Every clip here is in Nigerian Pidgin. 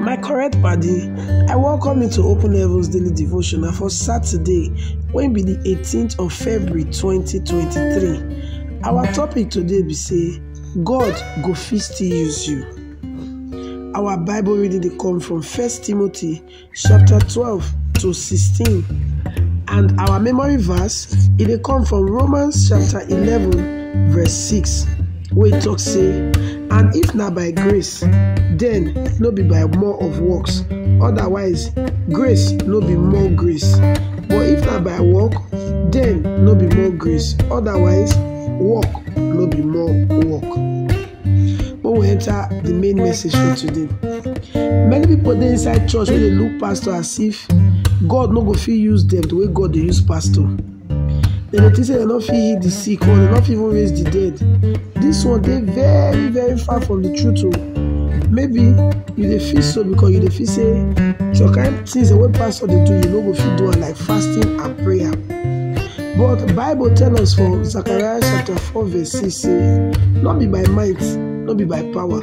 My correct padi, I welcome you to Open Heavens Daily Devotion na for Saturday wey be the 18th of February 2023. Our topic today be say God go fit still use you. Our Bible reading dey come from 1 Timothy chapter 12 to 16 and our memory verse e dey come from Romans chapter 11 verse 6. wey talk say, And if na by grace, then no be by more of works, otherwise grace no be more grace. But if na by work, then no be more grace, otherwise work no be more work. When we enter the main message for today, many people dey inside church wey dey look pastor as if God no go fit use them the way God dey use pastor. dem dey think say dem no fit heal the sick or dem no fit even raise the dead this one dey very very far from the truth o maybe you dey feel so because you dey feel say some kind things wey pastor dey do you no go fit do am like fasting and prayer but bible tell us for zechariah chapter four verse six say no be by might no be by power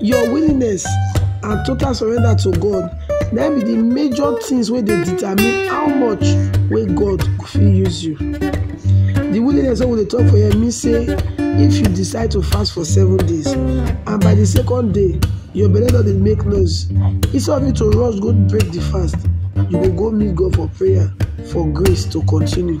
Your willingness and total surrender to God na im be the major things wey dey determine how much wey God go fit use you. The willingness wey we dey talk for here mean say if you decide to fast for seven days and by the second day your belle don dey make noise, instead of you to rush go break the fast, you go go meet God for prayer for grace to continue.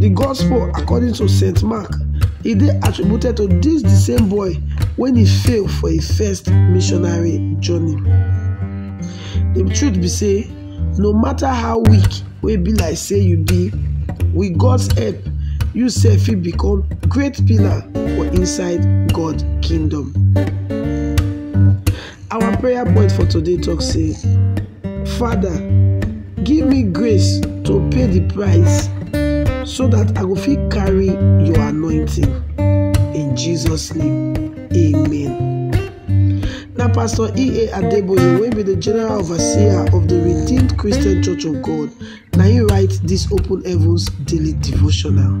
The Gospel according to St. Mark, e dey attributed to this the same boy when he fail for his first missionary journey. The truth be say, no matter how weak wey be like say you be, with God's help, you sef fit become great pillar for inside God kingdom. Our prayer point for today talk say, Father, give me grace to pay the price so that I go fit carry your anointing. In Jesus' name, amen. Na Pastor E.A. Adeboye wey be the general overseer of the Redeemed Christian Church of God na him write this Open Heavens daily devotional.